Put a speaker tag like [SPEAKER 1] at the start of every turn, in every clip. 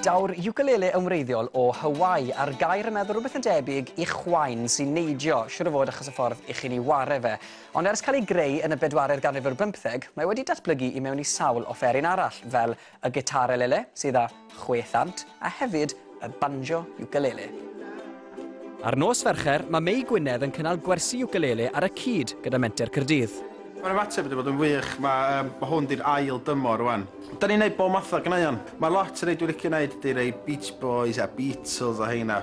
[SPEAKER 1] Daw'r ukulele yn wreiddiol o Hawaii, a'r gair yn meddwl rhywbeth yn debyg i chwain sy'n neidio, siwr o fod achos y ffordd i chi'n ei ware fe. Ond ers cael ei greu yn y bedwaredd ganrif ar bymtheg, mae wedi datblygu i mewn i sawl offeryn arall, fel Y gitarelele, sydd â chwe thant, a hefyd y banjo ukulele. Ar nos Fercher, mae Mei Gwynedd yn cynnal gwersi ukulele ar y cyd gyda Menter Caerdydd. Mae'r ymateb wedi
[SPEAKER 2] bod yn wych, mae hwn 'di'r ail dymor rwan. Dan ni'n neud bob math o ganeuon. Mae lot o rei dwi'n licio neud ydi rei Beach Boys a Beatles a heina,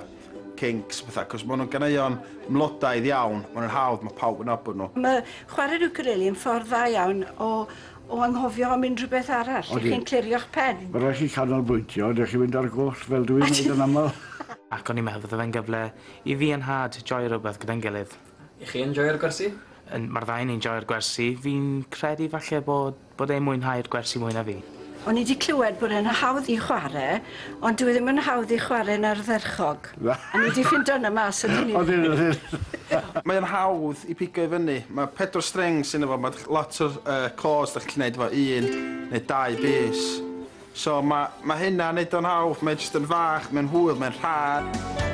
[SPEAKER 2] Kinks a petha, cos ma' nhw'n ganeuon mlodaidd iawn, ma' nhw'n hawdd, ma' pawb yn nabod nhw. Mae chwarae'r
[SPEAKER 3] ukulele yn ffordd dda iawn o O anghofio am unrhyw beth arall? Ydych chi'n clirio'ch pen? Mae'n rhaid i chi canolbwyntio,
[SPEAKER 4] dych chi'n mynd ar goll fel dw i'n wneud yn aml. Ac o'n i'n meddwl fydde
[SPEAKER 5] fe'n gyfle i fi a nhad joio rhywbeth gyda'n gilydd. Y'ch chi yn joio'r
[SPEAKER 1] gwersi? Yn, mae'r ddau o ni'n
[SPEAKER 5] joio'r gwersi. Fi'n credu falle bod bod e'n mwynhau'r gwersi mwy na fi. O'n i 'di clywed
[SPEAKER 3] bod e'n hawdd i chwarae. Ond dyw e ddim yn hawdd i chware yn ardderchog. Na. O'n i 'di ffindo hwnna mas yn unig. Odyn odyn odyn. Mae o'n
[SPEAKER 2] hawdd i pigo i fyny. Mae pedwar streng sy ynddo fo, ma' lot o'r yy chords 'dach chi'n gallu neud efo un neu dau bys. So ma' ma' hynna'n neud o'n hawdd, mae jyst yn fach, mae'n hwyl, mae'n rhad.